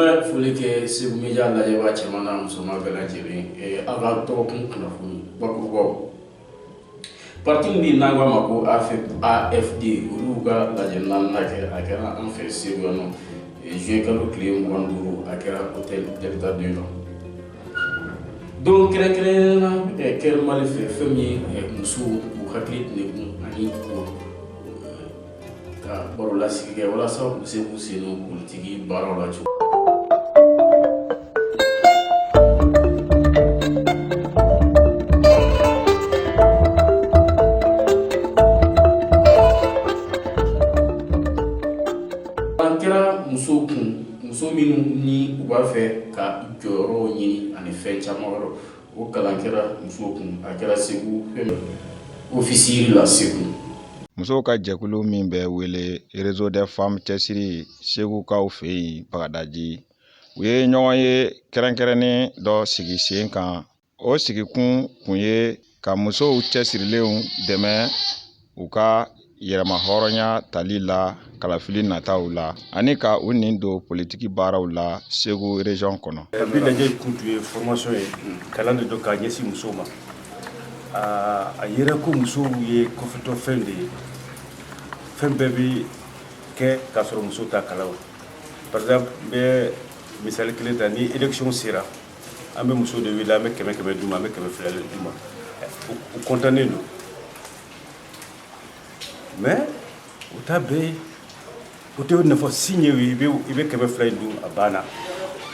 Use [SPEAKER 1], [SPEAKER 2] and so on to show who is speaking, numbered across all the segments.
[SPEAKER 1] bɛ foli kɛ segu media lajɛbaa cɛman n'a musoman bɛɛ lajɛlen aw ka dɔgɔkun kunnafoni bakurubaw parti min bɛ yen n'an k'a ma ko afd olu ka lajɛ naaninan kɛ a kɛra an fɛ segu yan nɔ juin kalo tile mugan ni duuru a kɛra hôtel delta deux la donc kɛrɛnkɛrɛnnenya la care mali fɛ fɛn min ye musow k'u hakili degun ani ka baro lasigi kɛ walasa u bɛ se k'u sen don politiki baaraw la cogo an kɛra musow kun Muso minnu ni u b'a fɛ ka jɔyɔrɔw ɲini ani fɛn caman wɛrɛ o kalan kɛra musow kun a kɛra segu office riz la segu musow
[SPEAKER 2] ka jɛkulu min bɛ wele réseau des femmes cɛsiri segukaw fɛ yen bagadaji u ye ɲɔgɔn ye kɛrɛnkɛrɛnnen dɔ sigi sen kan o sigikun kun ye ka musow cɛsirilenw dɛmɛ u ka yɛrɛma hɔrɔnya tali la kalafili nataw la ani ka u nin don politiki baaraw la segu région kɔnɔ bi lajɛ kun tun
[SPEAKER 3] ye formation ye kalan de don k'a ɲɛsin musow ma a yera ko musow ye kɔfɛtɔ fɛn de ye fɛn bɛɛ bɛ kɛ k'a sɔrɔ musow t'a kalama par exemple n bɛ misali kelen ta ni élection sera an bɛ musow de wele an bɛ kɛmɛ kɛmɛ d'u ma an bɛ kɛmɛ fila de d'u ma u kɔntannen don mais u t'a bɛɛ ye o tɛ nafa si ɲɛ i ye i bɛ i bɛ kɛmɛ fila in dun a banna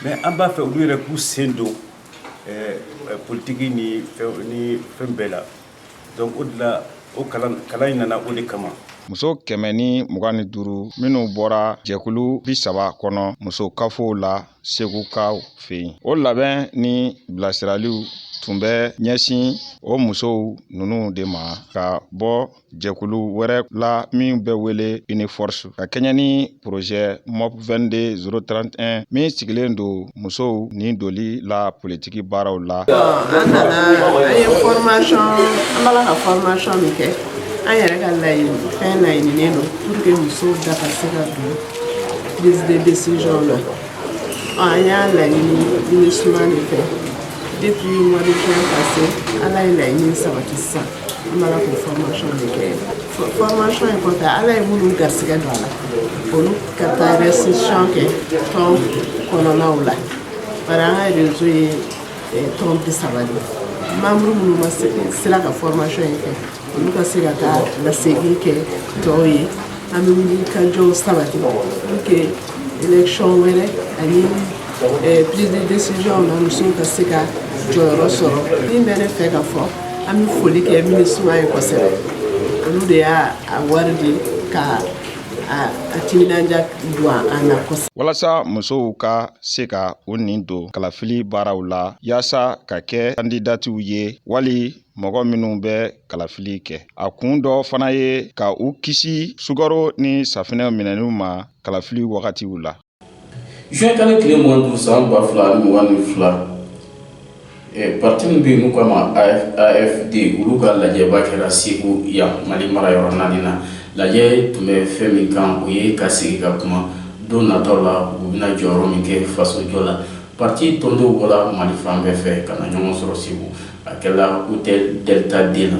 [SPEAKER 3] mais an b'a fɛ olu yɛrɛ k'u sen don politiki ni ni fɛn bɛɛ la donc o de la o kalan kalan in nana o de kama muso kɛmɛ ni
[SPEAKER 2] mugan ni duuru minnu bɔra jɛkulu bi saba kɔnɔ muso kafow la segukaw fɛ yen o labɛn ni bilasiraliw tun bɛ ɲɛsin o musow ninnu de ma ka bɔ jɛkulu wɛrɛ la min bɛ wele uniforce ka kɛɲɛ ni projet mop 22 031 min sigilen don musow nin doli la politiki tiki baaraw la an
[SPEAKER 4] nana an ye formation an b'a la ka formation min kɛ an yɛrɛ ka fɛn laɲininen don pour que musow da ka se ka don prise de décision na an y'a laɲini minusma de fɛ depuis mois de juin passé ala ye laɲini sabati sisan an b'a la k'o formation de kɛ formation in kɔfɛ ala ye minnu garisigɛ don a la olu ka taa restitution kɛ tɔn kɔnɔnaw la Bari an ka réseau ye tɔn bi saba de membre minnu ma sera ka fɔrɔmasɔn in kɛ olu ka se ka taa lasegin kɛ tɔw ye an bɛ wuli ka jɔw sabati pour que élection wɛrɛ ani prise de décision na musow ka se ka jɔyɔrɔ sɔrɔ min bɛ ne fɛ ka fɔ an bɛ foli kɛ MINUSMA ye kosɛbɛ olu de y'a wari di ka a timinandiya don an na kosɛbɛ. Walasa musow
[SPEAKER 2] ka se ka u ni don kalafili baaraw la yaasa ka kɛ kandidatiw ye wali mɔgɔ minnu bɛ kalafili kɛ a kun dɔ fana ye ka u kisi sukaro ni safinɛ minɛniw ma kalafili wagatiw la. Zuyɛn
[SPEAKER 1] kalo tile mugan ni duuru san ba fila ni mugan ni fila parti min bɛ yen n'u k'a ma AFD olu ka lajɛba kɛra Segu yan Mali mara yɔrɔ naani na lajɛ tun bɛ fɛn min kan o ye ka sigi ka kuma don nataw la u bɛna jɔyɔrɔ min kɛ fasojɔ la parti tɔndenw bɔra mali fan bɛɛ fɛ ka na ɲɔgɔn sɔrɔ segu a kɛra hôtel Delta deux la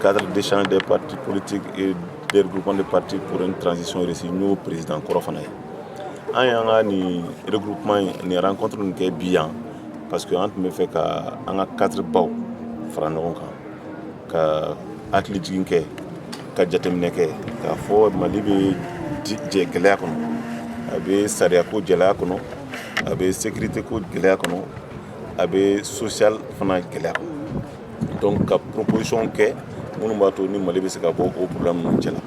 [SPEAKER 1] cadre d'échange
[SPEAKER 5] des partis politiques et des regroupements de partis pour une transition réussie n'o président kɔrɔ fana ye an y'an ka nin regroupement ni rencontre nin kɛ bi yan parce que an tun bɛ fɛ ka an ka cadre baw fara ɲɔgɔn kan ka hakili jigin kɛ ka jateminɛ kɛ k'a fɔ mali bɛ jɛ gɛlɛya kɔnɔ a bɛ sariyako gɛlɛya kɔnɔ a bɛ sécurité ko gɛlɛya kɔnɔ a bɛ social fana gɛlɛya kɔnɔ donc ka proposition kɛ minnu b'a to ni mali bɛ se ka bɔ o problème ninnu cɛla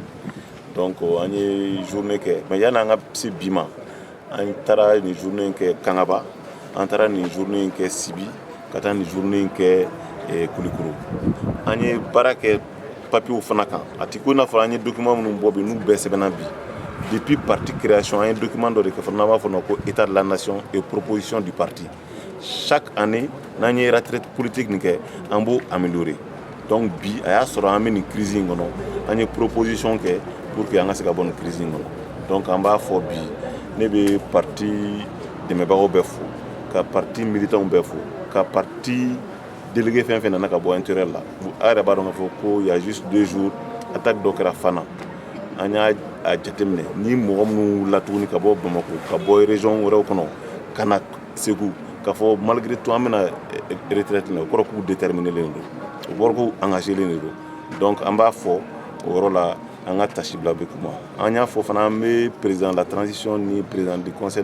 [SPEAKER 5] Donc an ye journée kɛ mais yanni an ka se bi ma an taara nin journée in kɛ Kangaba an taara nin journée in kɛ Sibi ka taa nin journée in kɛ Kulikoro an ye baara kɛ papierw fana kan a tɛ ko n'a fɔra an ye document minnu bɔ bi n'u bɛɛ sɛbɛnna bi depuis parti création an ye document dɔ de kɛ fana n'an b'a fɔ ko état de la nation et proposition du parti chaque année n'an ye retraite politique nin kɛ an b'o améliorer donc bi a y'a sɔrɔ an bɛ nin crise in kɔnɔ an ye proposition kɛ pour que an ka se ka bɔ nin crise in kɔnɔ donc an b'a fɔ bi ne bɛ parti dɛmɛbagaw bɛɛ fo ka parti militanw bɛɛ fo ka parti Délégué fɛn fɛn nana ka bɔ intérieur la a yɛrɛ b'a dɔn fɔ ko il y a juste deux jours attaque dɔ kɛra Fana an y'a jateminɛ ni mɔgɔ minnu wulila tuguni ka bɔ bamakɔ ka bɔ région wɛrɛw kɔnɔ ka na segu k'a fɔ malgré tout an bɛna retraite la o kɔrɔ k'u déterminélen don o kɔrɔ k'u engagélen de don donc an b'a fɔ o yɔrɔ la an ka taasibila bɛ kuma an y'a fɔ fana an bɛ président de la transition ni président du conseil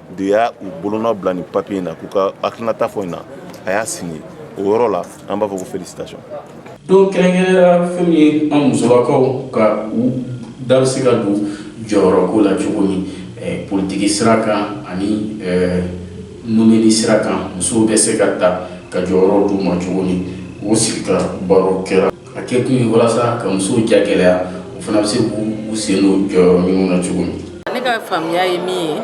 [SPEAKER 5] de y'a u bolonɔ bila nin papiye in na k'u ka hakilinata fɔ in na a y'a signé o yɔrɔ la an b'a fɔ ko félicitation
[SPEAKER 1] donc kɛrɛnkɛrɛnnenya fɛn min ye an musolakaw ka u da bɛ se ka don jɔyɔrɔko la cogo min eh, politiki sira kan ani eh, nomeli sira kan musow bɛ se ka ta ka jɔyɔrɔ d'u ma cogo min o sigi ka baro kɛra A kɛ kun ye walasa ka musow ja gɛlɛya u fana bɛ se k'u sen don jɔyɔrɔ ninnu na cogo min ne ka faamuya
[SPEAKER 6] ye min ye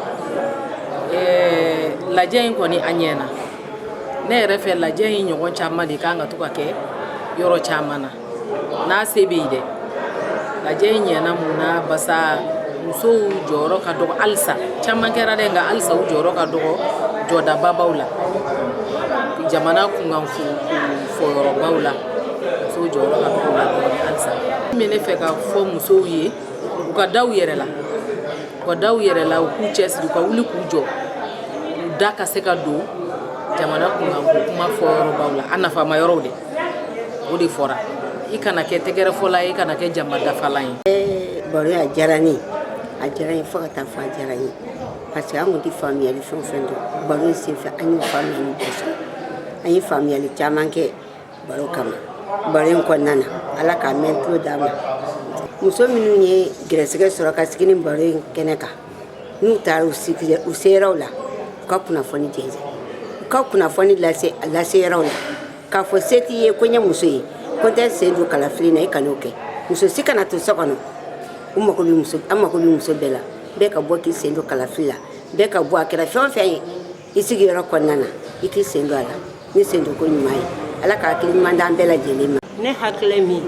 [SPEAKER 6] ɛɛ lajɛ in kɔni a ɲɛna ne yɛrɛ fɛ lajɛ in ɲɔgɔn caman de kan ka to ka kɛ yɔrɔ caman na n'a se bɛ yen dɛ lajɛ in ɲɛna mun na basa musow jɔyɔrɔ ka dɔgɔ halisa caman kɛra dɛ nka halisa u jɔyɔrɔ ka dɔgɔ jɔdababaw la jamana kunkan fɔ fɔyɔrɔbaw la musow jɔyɔrɔ ka dɔgɔ la dɔɔni halisa min bɛ ne fɛ ka fɔ musow ye u ka da u yɛrɛ la u ka da u yɛrɛ la u k'u cɛsiri u ka wuli k'u jɔ u da ka se ka don jamana kunkanko kuma fɔyɔrɔbaw la a nafama yɔrɔw de o de fɔra i kana kɛ tɛgɛrɛfɔla ye i kana kɛ jama dafalan ye eh, baro a diyara
[SPEAKER 7] ne ye a diyara n ye fo ka taa fɔ a diyara n ye parce que an kun tɛ faamuyali fɛn o fɛn dɔn baro in senfɛ an y'o faamuyali bɛɛ sɔrɔ an ye faamuyali caman kɛ baro kama baro in kɔnɔna na ala k'a mɛn tulo d'a ma muso minnu ye gɛrɛsɛgɛ sɔrɔ ka sigi nin baro in kɛnɛ kan n'u taara u seyɔrɔw la u ka kunnafoni jɛnsɛn u ka kunnafoni lase a laseyɔrɔw la k'a fɔ se t'i ye ko n ye muso ye ko n tɛ sen don kalafili na i kan'o kɛ muso si kana to so kɔnɔ u mago bɛ muso an mago bɛ muso bɛɛ la bɛɛ ka bɔ k'i sen don kalafili la bɛɛ ka bɔ a kɛra fɛn o fɛn ye i sigiyɔrɔ kɔnɔna na i k'i sen don a la ni sendonko ɲuman ye ala ka hakili ɲuman d'an bɛɛ lajɛlen ma ne hakilɛ min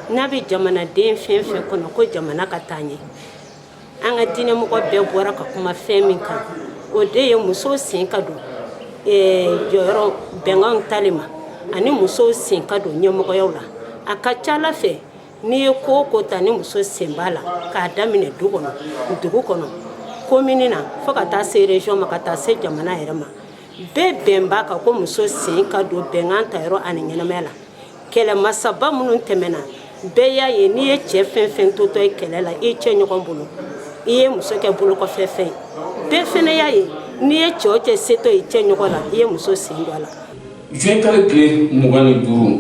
[SPEAKER 8] n'a bɛ jamanaden fɛn fɛn kɔnɔ ko jamana ka taa ɲɛ an ka diinɛmɔgɔ bɛɛ bɔra ka kuma fɛn min kan o de ye musow sen ka don eh, jɔyɔrɔ bɛnkanw tali ma ani musow sen ka don ɲɛmɔgɔyaw la a ka ca a la fɛ N'i ye ko o ko ta ni muso sen b'a la k'a daminɛ du kɔnɔ dugu kɔnɔ komini na fo ka taa se région ma ka taa se jamana yɛrɛ ma bɛɛ bɛn b'a kan ko muso sen ka don bɛnkan tayɔrɔ ani ɲɛnamaya la kɛlɛ masaba minnu tɛmɛna bɛɛ y'a ye n'i ye cɛ fɛn fɛn totɔ ye kɛlɛ la i cɛ ɲɔgɔn bolo i ye muso kɛ bolokɔfɛfɛn ye bɛɛ fɛnɛ y'a ye n'i ye cɛ o cɛ setɔ i cɛ ɲɔgɔn la i ye muso sen don a la Juin kalo
[SPEAKER 1] tile mugan ni duuru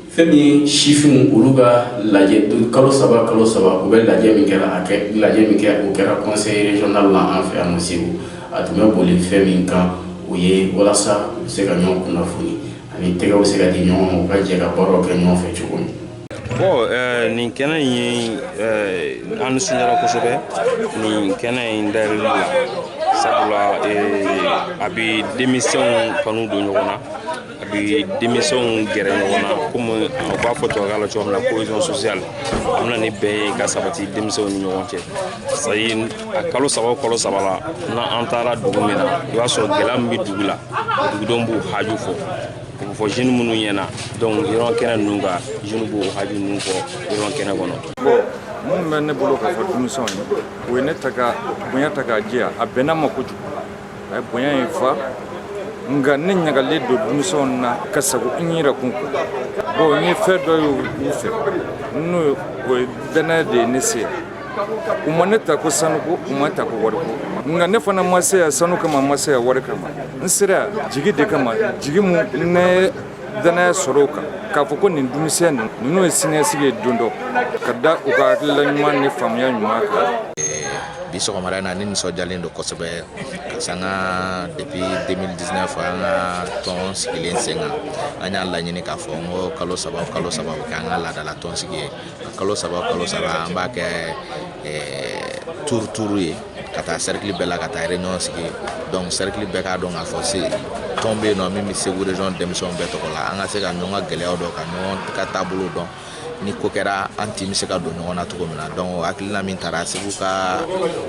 [SPEAKER 1] fɛn min ye sifinw olu ka lajɛ kalo saba kalo saba u bɛ lajɛ min kɛra lajɛ min kɛ o kɛra conseil régional la an fɛ yan Segu a tun bɛ boli fɛn min kan o ye walasa u bɛ se ka ɲɔgɔn kunnafoni ani tɛgɛw bɛ se ka di ɲɔgɔn ma u ka jɛ ka baara kɛ ɲɔgɔn fɛ cogo min bon
[SPEAKER 9] nin kɛnɛ in ye an nisɔndiyara kosɛbɛ nin kɛnɛ in dayɛlɛli la sabula a bɛ denmisɛnw kanu don ɲɔgɔn na a bɛ denmisɛnw gɛrɛ ɲɔgɔn na komi u b'a fɔ tubabukan na cogo min na cohésion sociale a bɛ na ni bɛn ye ka sabati denmisɛnw ni ɲɔgɔn cɛ c'est à kalo saba o kalo saba la n'an taara dugu min na i b'a sɔrɔ gɛlɛya min bɛ dugu la dugudenw b'u haju fɔ U b'o fɔ jeunes minnu ɲɛ na donc forum kɛnɛ ninnu kan jeunes b'u haju ninnu fɔ forum kɛnɛ kɔnɔ. Bon min bɛ
[SPEAKER 2] ne bolo k'a fɔ denmisɛnw ye o ye ne ta ka bonya ta k'a jɛya a bɛnna ma kojugu a ye bonya in fa nka ne ɲagalen don denmisɛnw na ka sago n yɛrɛ kun bon n ye fɛn dɔ ye u fɛ n'o ye o ye danaya de ye ne se yan u ma ne ta ko sanu ko u ma n ta ko wari ko nka ne fana ma se yan sanu kama ma se yan wari kama n sera jigi de kama jigi min ne danaya sɔrɔ o kan k'a fɔ ko nin denmisɛnnin ninnu ye siniɲɛsigi ye don dɔ ka da u ka hakilila ɲuman ni faamuya ɲuman kan
[SPEAKER 10] bi sɔgɔmada in na ne nisɔndiyalen don kosɛbɛ parce que an ka depuis 2019 an ka tɔn sigilen sen kan an y'a laɲini k'a fɔ n ko kalo saba kalo saba o kɛ an ka laadala tɔn sigi ye kalo saba kalo saba an b'a kɛ tour tour ye ka taa cercle bɛɛ la ka taa réunion sigi donc cercle bɛɛ k'a dɔn k'a fɔ se tɔn bɛ yen nɔ min bɛ Segu région denmisɛnw bɛɛ tɔgɔ la an ka se ka ɲɔgɔn ka gɛlɛyaw dɔn ka ɲɔgɔn ka taabolo dɔn ni ko kɛra an tun bɛ se ka don ɲɔgɔn na cogo min na donc o hakilina min tara Segu ka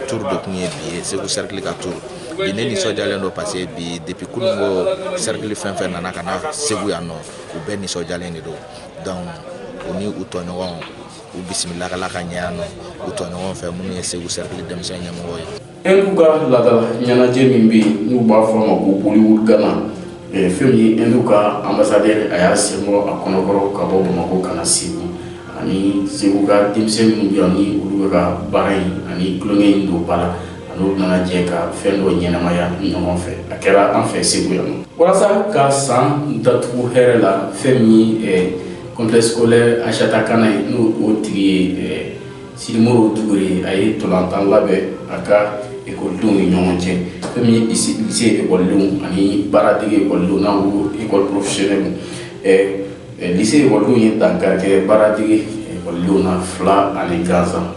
[SPEAKER 10] tour de tun ye bi ye Segu cercle ka tour bi ne nisɔndiyalen don parce que bi depuis kununko cercle fɛn fɛn nana ka na Segu yan nɔ u bɛɛ nisɔndiyalen de don Donc u ni u tɔɲɔgɔn u bisimilala ka ɲɛ yan nɔ u tɔɲɔgɔn fɛ minnu ye segu cercle denmisɛn ɲɛmɔgɔ ye hindu ka
[SPEAKER 1] laadala ɲɛnajɛ min bɛ yen n'u b'a fɔ a ma ko bollywood gana fɛn min ye hindu ka ambassadeur a y'a sen bɔ a kɔnɔkɔrɔ ka bɔ bamakɔ ka na segu ani segu ka denmisɛn minnu bɛ yan olu bɛ ka baara in ani tulon in don ba la N'u nana jɛ ka fɛn dɔ ɲɛnamaya ɲɔgɔn fɛ a kɛra an fɛ segu yan walasa ka san datugu hɛrɛ la fɛn min complexe scolaire aïssata kane ye n'o o tigi ye sidimoro dukure ye a ye ntolatan labɛn a ka ekɔlidenw ni ɲɔgɔn cɛ fɛn min ye lycée ekɔlidenw ani baaradege ekɔlidenw n'an ko école professionnelle lycée ekɔlidenw ye dankari kɛ baaradege ekɔlidenw na fila ani gansan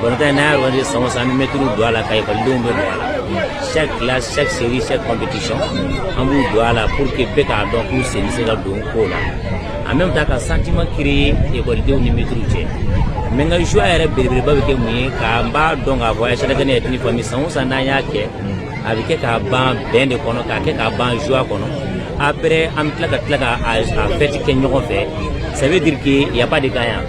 [SPEAKER 11] Balontan n'an y'a organiser san o san, an bɛ mɛtiriw don a la, ka ekɔlidenw bɛɛ don a la. Chaque classe, chaque série, chaque compétition, an b'u don a la pour que bɛɛ k'a dɔn k'u sen bɛ se ka don ko la. En même temps, ka sentiment créer ekɔlidenw ni mɛtiriw cɛ mais n ka joie yɛrɛ belebeleba bɛ kɛ mun ye k'an b'a dɔn k'a fɔ Ayisata Kane est une famille san o san n'an y'a kɛ a bɛ kɛ k'a ban bɛn de kɔnɔ k'a kɛ k'a ban joie kɔnɔ après an bɛ tila ka tila ka a fɛti kɛ ɲɔgɔn fɛ ça veut dire que y a pas de gagnant